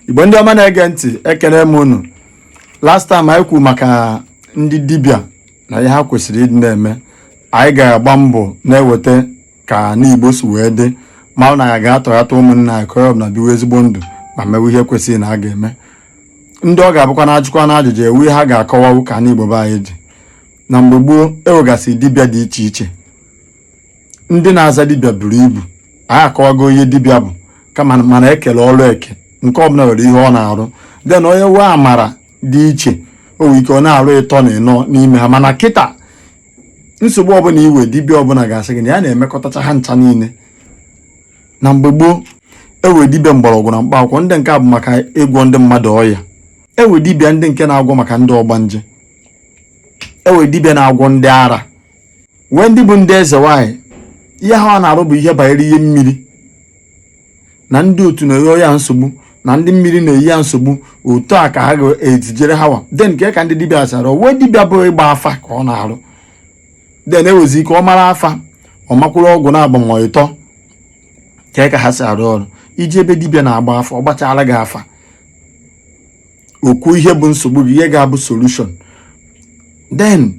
igbo ndị ọma na-ege ntị ekene m unu last time anyị kwuru maka ndị dibịa na ihe ha kwesịrị ịdị na-eme anyị ga-agba mbọ na-eweta ka anị igbo si wee dị ma ọ na ya ga-atọghata ụmụnna anyị ka ọ na biwe ezigbo ndụ ma mewe ihe kwesịrị na a ga-eme ndị ọ ga-abụkwa na ajụkwa na ajụjụ ewe ihe ha ga-akọwawu ka anị igbo be anyị dị na mgbe gboo ewegasị dibịa dị iche iche ndị na-aza dibịa buru ibu anyị akọwago ihe dibịa bụ kama mana e kele ọrụ eke nke ọbụla nwere ihe ọ na-arụ then onye wee amara dị iche o nwere ike ọ na-arụ ịtọ na ịnọ n'ime ha mana kịta nsogbu ọbụla i we dibịa ọbụla ga-asị gị na ya na-emekọtacha ha ncha niile na mgbe gboo ewe dibịa mgbọrọgwụ na mkpa akwụkwọ ndị nke a bụ maka ịgwọ ndị mmadụ ọya ewe dibịa ndị nke na-agwọ maka ndị ọgbanje ewe dibịa na-agwọ ndị ara wee ndị bụ ndị eze nwaanyị ihe ha wa na-arụ bụ ihe banyere ihe mmiri na ndị otu na-enye ya nsogbu na ndị mmiri na-eyi ya nsogbu otu a ka ha ga-etijere ha wa then nke ka ndị dibịa zara wee dibịa bụ ịgba afa ka ọ na-arụ then ewezi ike ọ mara afa ọ makwuru ọgwụ na-agbanwe ịtọ ka ka ha si arụ ọrụ i jee be dibịa na-agba afa ọ gbachara gị afa o kwuo ihe bụ nsogbu gị ihe ga-abụ solution then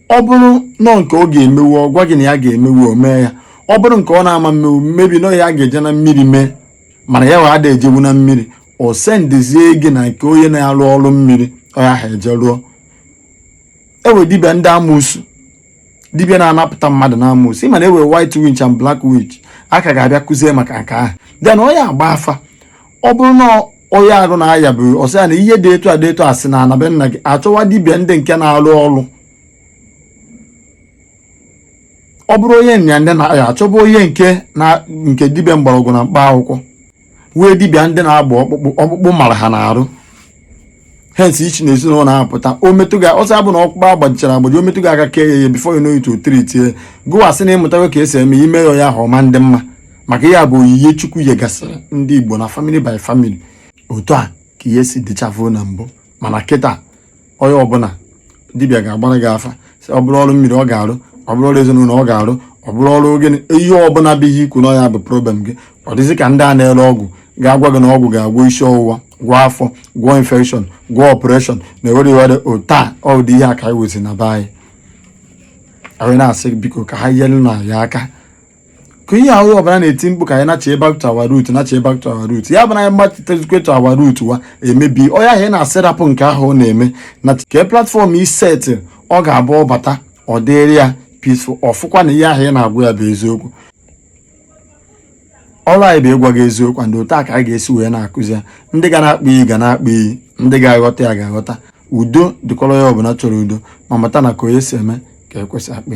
ọ bụrụ nọ nke ọ ga-emewu ọ gwa gị na ya ga-emewu o mee ya ọ bụrụ nke ọ na-ama mmewu maybe nọ ihe a ga-eje na mmiri mee mana ya wa ada ejewu na mmiri o sendezie gị na nke onye na-arụ ọrụ mmiri onye ahụ eje rụọ ewe dibịa ndị amoosu dibịa na-anapụta mmadụ na amoosu ị ma na ewe white witch and black witch a ka ga-abịa kụzie maka nke ahụ then onye agba afa ọ bụrụ na onye arụ na-aya bụ ọ sị ya na ihe dị etu a dị etu a si na ana be nna gị achọwa dibịa ndị nke na-arụ ọrụ ọ bụrụ onye nya ndị na-aya achọba onye nke na nke dibịa mgbọrọgwụ na mkpa akwụkwọ wee dibịa ndị na-agba ọkpụkpụ ọkpụkpụ mara ha n'arụ hence i si na ezinụlọ na-apụta o metụ gị ọsọ abụ na ọkpụkpụ agbajichara agbaji o metụ gị aka kee ya ihe before you know it o treatie gụwa sị na ị mụtago ka e si eme i mee ya ya ahụ ọ ma ndị mma maka ihe a bụ oyiye chukwu yegasịrị ndị igbo na family by family otu a ka ihe si dịchafuo na mbụ mana kịta onye ọbụla dibịa ga-agbara gị afa sị ọ bụrụ ọrụ mmiri ọ ga-arụ ọ bụrụ ọrụ ezinụlọ ọ ga-arụ ọ bụrụ ọrụ gịnị ihe ọbụla bụ ihe i kwu na ya bụ problem gị ọ dịzị ka ndị a na-ere ọgwụ ga-agwa gị na ọgwụ ga-agwọ isi ọwụwa gwọọ afọ gwọọ infection gwọọ operation na ewere iwere ota ụdị ihe a ka anyị wezi na be anyị anyị na-asị biko ka ha nyere na ya aka ka ihe ahụ ọbara na-eti mkpu ka anyị nachi back to our root nachi back to our root ya bụ na anyị machitezikwe to our root where maybe onye ahụ ị na-asị rapụ nke ahụ ọ na-eme na kee platform i set ọ ga-abụ ọ bata ọ dịrị ya peaceful ọ fụkwa na ihe ahụ ị na-agwa ya bụ eziokwu ọrụ anyị bụ ịgwa gị eziokwu ndị otu a ka anyị ga-esi wee na-akụzi ya ndị ga na-akpa iyi ga na-akpa iyi ndị ga-aghọta ya ga-aghọta udo dịkọrọ ya ọbụla chọrọ udo ma mata na ka onye si eme ka ekwesị akpa